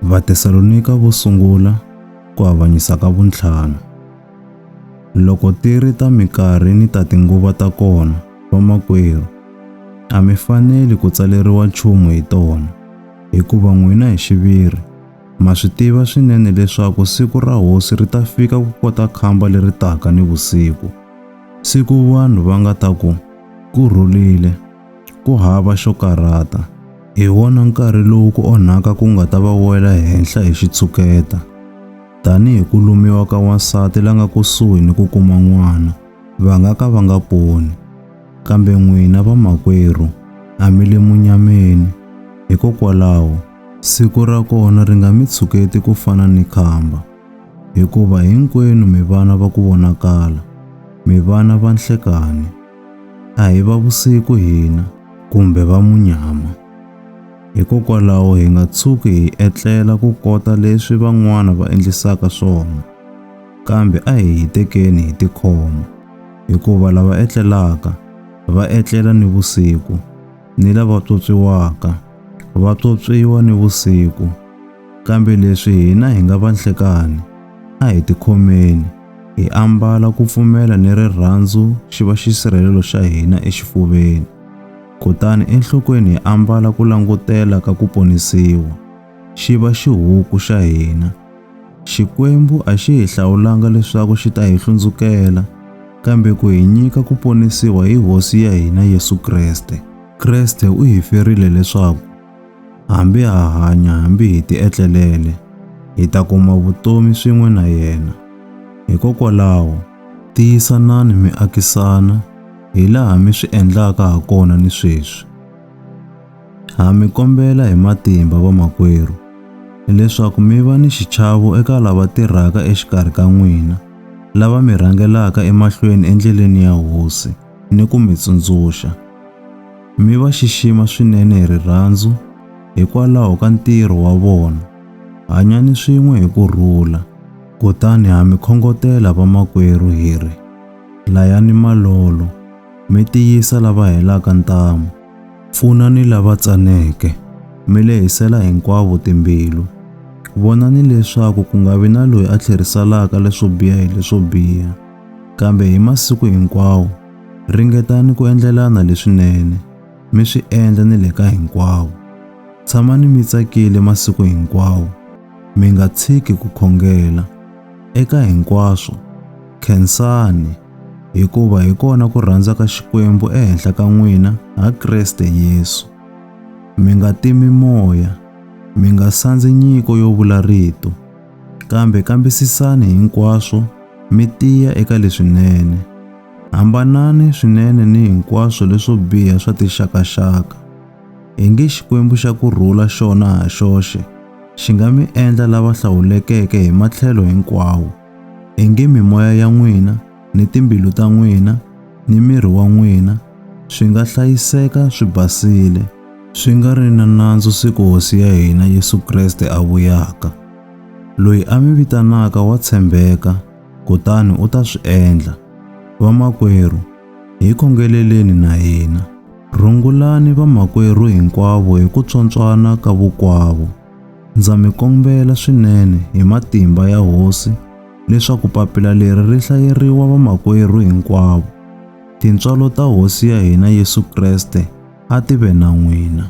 Vatesalonika vo sungula ku avanyisa ka vuntlhanu. Loko ti ri ta mikarhi ni ta tinguva ta kona, vamakwerhu, a mi faneli ku tsaleriwa nchumu hi tona, hikuva n'wina hi xiviri ma swi tiva swinene leswaku siku ra Hosi ri ta fika ku kota khamba leri taka nivusiku, siku vanhu va nga ta ku, Ku rhulile! Ku hava xo karhata. Hi wona nkarhi lowu ku onhaka ku nga ta va wela henhla hi xitshuketa. Tanihi ku lumiwa ka wansati la nga kusuhi ni ku kuma n'wana, va nga ka va nga poni. Kambe n'wina vamakwerhu, a mi le munyameni. Hikokwalaho, siku ra kona ri nga mi tshuketi ku fana ni khamba. Hikuva hinkwenu mi vana va ku vonakala, mi vana va nhlekani. a hi va vusiku hina kumbe va munyama. Hikokwalaho hi nga tshuki hi etlela ku kota leswi van'wana va endlisaka swona, kambe a hi hitekeni hi tikhoma, hikuva lava etlelaka va etlela ni vusiku, ni lava pyopyiwaka va pyopyiwa ni vusiku. Kambe leswi hina hi nga vanhlekani, a hi tikhomeni, hi ambala ku pfumela ni rirhandzu xi va xisirhelelo xa hina exifuveni, kutani enhlokweni hi ambala ku langutela ka ku ponisiwa, xi va xihuku xa hina. Xikwembu a xi hi hlawulanga leswaku xi ta hi hlundzukela, kambe ku hi nyika ku ponisiwa hi Hosi ya hina Yesu Kreste. Kreste u hi ferile leswaku Hambi ha hanya hambi hi tietlelele, hi ta kuma vutomi swin'we na yena. Hikokwalaho, tiyisanani mi akisana hi laha mi swi endlaka ha kona ni sweswi. Ha mi kombela hi matimba vamakwerhu leswaku mi va ni xichavo eka lava tirhaka exikarhi ka n'wina lava mi rhangelaka emahlweni endleleni ya Hosi. ni ku mi tsundzuxa, mi va xixima swinene hi rirhandzu hikwalaho ka ntirho wa vona. Hanyani swin'we hi ku rhula. Kutani ha mi khongotela vamakwerhu hi ri, Layani malolo, mi tiyisa lava helaka ntamu, pfunani lava tsaneke, mi lehisela hinkwavo timbilu. Vonani leswaku ku nga vi na loyi a tlherisalaka leswo biha hi leswo biha. Kambe hi masiku hinkwawo, ringetani ku endlelana leswinene, mi swi endla ni le ka hinkwavo. Tshamani mi tsakile masiku hinkwawo, mi nga tshiki ku khongela. Eka hinkwaswo, khensani, hikuva hi kona ku rhandza ka Xikwembu ehenhla ka n'wina ha Kreste Yesu. Mi nga timi moya, mi nga sandzi nyiko yo vula rito. Kambe kambisisani hinkwaswo mi tiya eka leswinene. Hambanani swinene ni hinkwaswo leswo biha swa tixakaxaka. Hi nge Xikwembu xa ku rhula xona ha xoxe xi nga mi endla lava hlawulekeke hi matlhelo hinkwawo, hi nge mimoya ya n'wina ni timbilu ta n'wina ni miri wa n'wina swi nga hlayiseka swi basile, swi nga ri na nandzu siku Hosi ya hina Yesu Kreste a vuyaka. Loyi a mi vitanaka wa tshembeka, kutani u ta swi endla. Vamakwerhu, hi khongeleleni na hina. Rungulani vamakwerhu hinkwavo hi ku tswontswana ka vukwavo. Ndza mi kombela swinene hi matimba ya Hosi leswaku papila leri ri hlayeriwa vamakwerhu hinkwavo. Tintswalo ta Hosi ya hina Yesu Kreste a ti ve na n'wina.